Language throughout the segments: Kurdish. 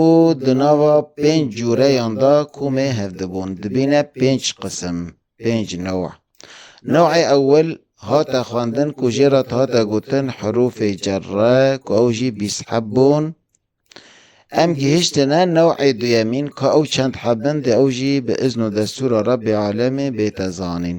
û di nava pênc cûreyan de ku mê hevdibûn dibîne pênc qisim, pênc new. Newê ewil hate xwendin ku jê re hate gotin herûfê cerre ku ew jî bîst heb bûn. Em gihiştine newê duyemîn ka ew çend heb in dê ew jî bi izn û destûra Rebbê Alemê bête zanîn.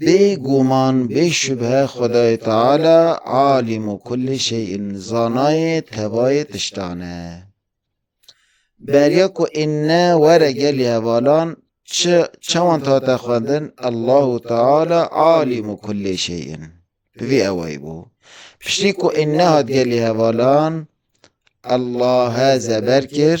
Bê guman, bê şubhe Xwedayê Teala Alîmu kulli şey'in, zanayê tebayê tiştan e. Beriya ku inne were gelê hevalan çi çawan dihate xwendin Allahu Teala Alîmu kulli şey'in. Bi vî ewayî bû. Piştî ku inne hat gelê hevalan Allah zeber kir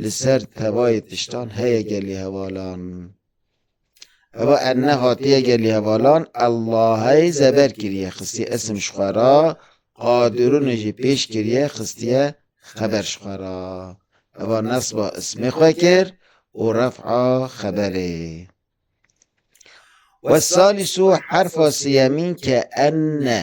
Li ser tevayê tiştan heye gelî hevalan. Eva erne hatiye gelî hevalan Ellahey zeber kiriye xistiye isim ji xwe ra, Qadirûnê jî pêş kiriye xistiye xeber ji xwe ra. Eva nesba ismê xwe kir û ref'a xeberê. Wessalîsû herfa siyemîn ke enne.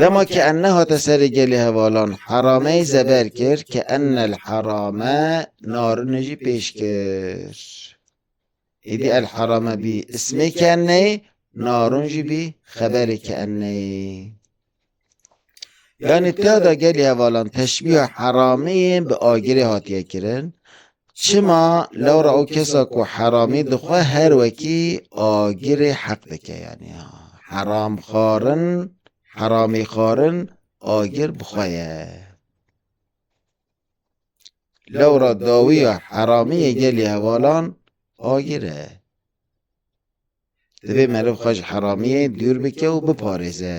Dema ke en nehate serê gelê hevalan herameyê zeber kir ke ennel herame narinê jî pêş kir. Êdî el herame bî ismê ke enneyê, narin jî bî xeberê ke enneyê. Yanî tada gelê hevalan teşbîha herameyê bi agirê hatiye kirin. Çima lewra o kesa ku heramî dixwe her wekî agirê heq dike yanî heramxwarin, heramîxwarin agir bi xwe ye. Lewra dawiya heramî yê gelê hevalan agir e. Divê meriv xwe ji heramiyê dûr bike û biparêze.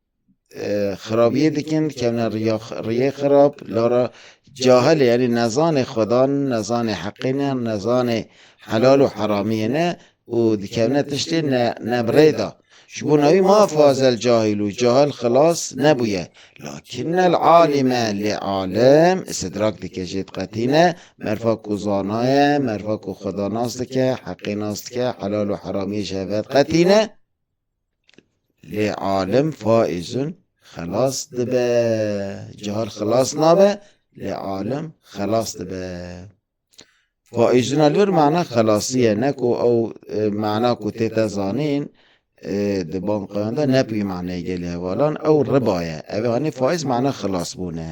xirabiyê dikin dikevne riya riyê xirab lara cahilê yanî nezanê xwedan nezanê heqê ne nezanê helal û heramiyê ne û dikevne tiştê ne ne bi rê da ji bo navî ma fazel cahil û cahil xilas nebûye lakinnel alîme lê alim istidrak dike jê diqetîne merfa ku zanaye merfa ku xwedanas dike heqê nas dike helal û heramiyê ji hev ve diqetîne Lê alim faizun xelas dibe. Cihar xelas nabe lê alim xelas dibe. Faizun li vir mana xelasiye ne ku ew e, mana ku tê te zanîn e, di bankayan de nepî maneyê gelê hevalan ew ribaye. Ev anî faiz mana xelasbûn e.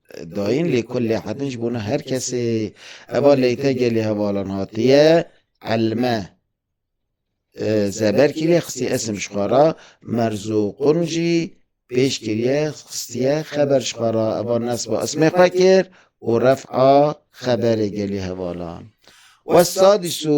Dayîn lê ku lê hetin ji bona her kesê eva leyte gelê hevalan hatiye elme. Zeber kiriye xistî esim ji xwe ra merzo qun jî pêş kiriye xistiye xeber ji xwe ra eva nesba ismê xwe kir û refa xeberê gelê hevalan. Westadî sû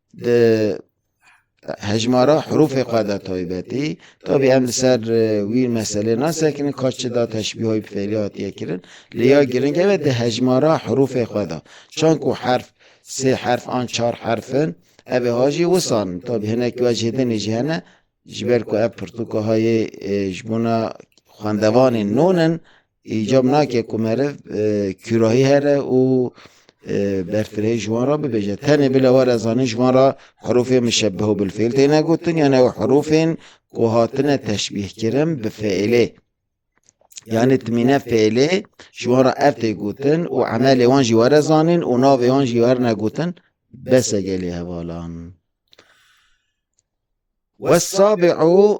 di hejmara herûfê xwe de taybetî tabî em li ser e, wî meselê nasekinin ka çi da teşbîhoy bi fêlî hatiye kirin lê ya girîng ev e di hejmara herûfê xwe de çan ku herf sê herf an çar herfin ev ê ha jî wisan tabî hinek wecî dinê jî hene ji ber ku ev pirtûka hayê e, ji bona xwendevanên non in Îcab nake ku meriv kûrahî here û berfirehî ji wan re bibêje. Tenê bile were zanîn ji wan re herûfê muşebbehu bil fîl têne gotin yan ew herûfên ku hatine teşbîhkirin bi fiîlê. Yanî timîne fiîlê ji wan re ev tê gotin û emelê wan jî were zanîn û navê wan jî werne gotin bes e gelê hevalan. Wesabîu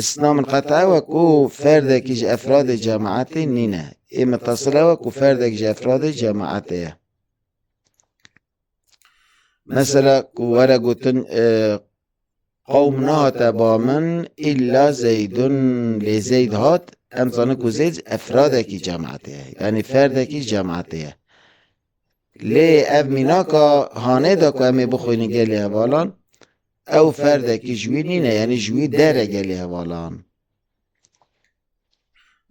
Îslam qet ew e ku ferdekî ji efradê cemaetê nîne. Ê mitesil ew e ku ferdek ji efradê cemaetê ye. Mesela ku were gotin e, qewm nehate ba min îlla zeydun lê zeyd hat em zanin ku zeyd efradekî cemaetê ye yanî ferdekî cemaetê ye lê ev mînaka hanê de ku em ê bixwînin gelê hevalan Ew ferdekî ji wî nîne yanî ji wî dere gelê hevalan.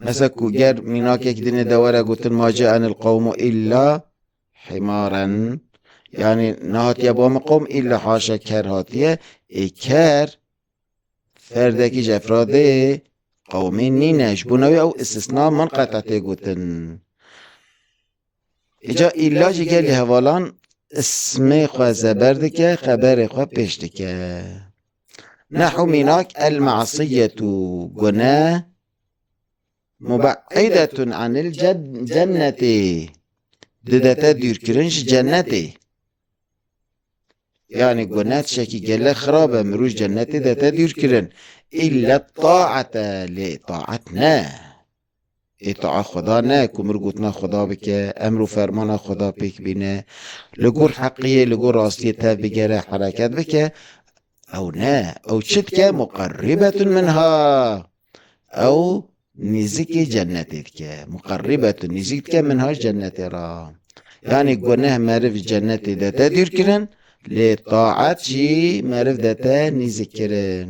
Mesela ku ger mînakek dinê de were gotin ma ce'enil qewmu îlla himaren yanî nehatiye bo min qewm îlla haşa ker hatiye ê ker ferdekî ji efradê qewmî nîne ji bo newê ew istisna min qeta tê gotin. Îca îlla jî gelê hevalan ismê xwe zeber dike, xeberê xwe pêş dike. Nehu mînak el masiyetû gune mubeidetun anil cennetê. Didete dûrkirin ji cennetê. Yani gune tişekî gele xirab e mirûj cennetê dete dûrkirin. İlla taate lê taat ne. Ê taa Xweda ne ku mir gotina Xweda bike, emr û fermana Xweda pêk bîne, li gor heqiyê, li gor rastiyê tev bigere, hereket bike, ew ne, ew çi dike, muqerrîbetun minha, ew nêzikê cennetê dike, muqerrîbetun, nêzik dike minha ji cennetê re. Yanî guneh meriv ji cennetê dete dûrkirin, lê taet jî meriv dete nêzikkirin.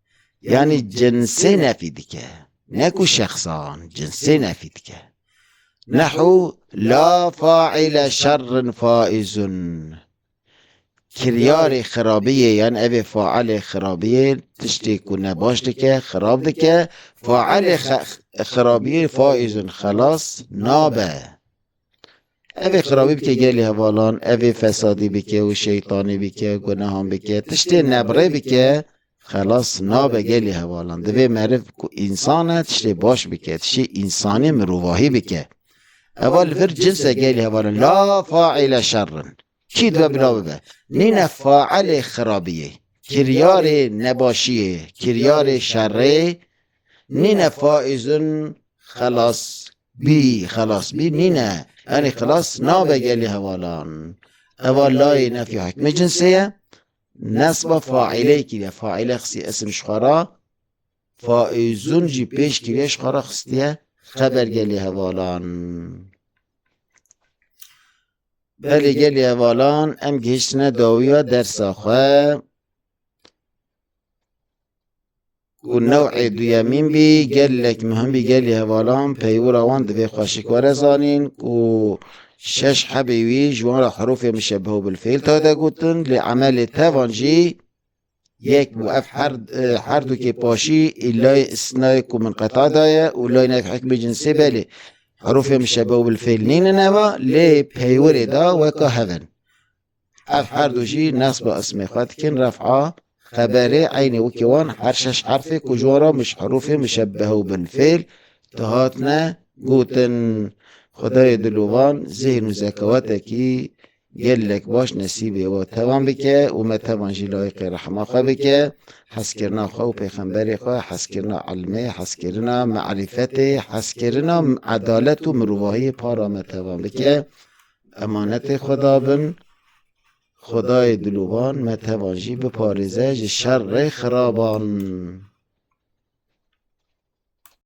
Yanî cinsê nefî dike. Ne ku şexsan cinsê nefî dike. Nehu la faîle şerrin faîzun. Kiryarê xirabiyê yan evê faîlê xirabiyê tiştê ku ne baş dike, xirab dike, faîlê xirabiyê faîzun xelas nabe. Evê xirabî bike gelê hevalan, evê fesadî bike û şeytanî bike, gunehan bike, tiştê nebrê bike, xelas nabe gelê hevalan. Divê meriv ku însan e tiştê baş bike, tiştê însanî mirovahî bike. Eva li vir cinse gelê hevalan la faîle şerrin. Kî dibe bila bibe. Nîne failê xirabiyê, kiryarê nebaşiyê, kiryarê şerrê nîne faizun xelas Bî xelas bî nîne. Erê xilas nabe gelê hevalan. Eva layê nefî hikmê cinsê ye. Nesba faîlê kiriye. Faîle xisî isim ji xwe re. Faîzun jî pêş kiriye ji xwe re xistiye xeber gelê hevalan. Belê gelê hevalan em gihiştine dawiya dersa xwe. û new'ê duyemîn bî gelek muhim bî gelê hevalan peywira wan divê xwe şikwere zanîn û şeş hebê wî ji wan re herûfê muşebehu bil fîl tade gotin lê emelê tevan jî yek bû ev her e, her dukê paşî ê lay istinayê ku min qeta daye û lay nev hikmê cinsê belê herûfê muşebehu bil fîl nînin eva lê peywirê da weka hev in Ev her du jî nesba ismê xwe dikin Ref'a, xeberê, eynî wekî wan her şeş herfê ku ji wan re mich herûfê muşebbehe û binfêl dihatine gotin. Xwedayê dilûvan zîhn û zekawetekî gelek baş nesîbê we tevan bike û me tevan jî layiqê rehma xwe bike, hezkirina xwe û pêxemberê xwe, hezkirina ilmê, hezkirina me'rîfetê, hezkirina edalet û mirovahiyê para me tevan bike. Emanetê Xweda bin, Xwedayê dilûvan me tevan jî biparêze ji şerrê xiraban.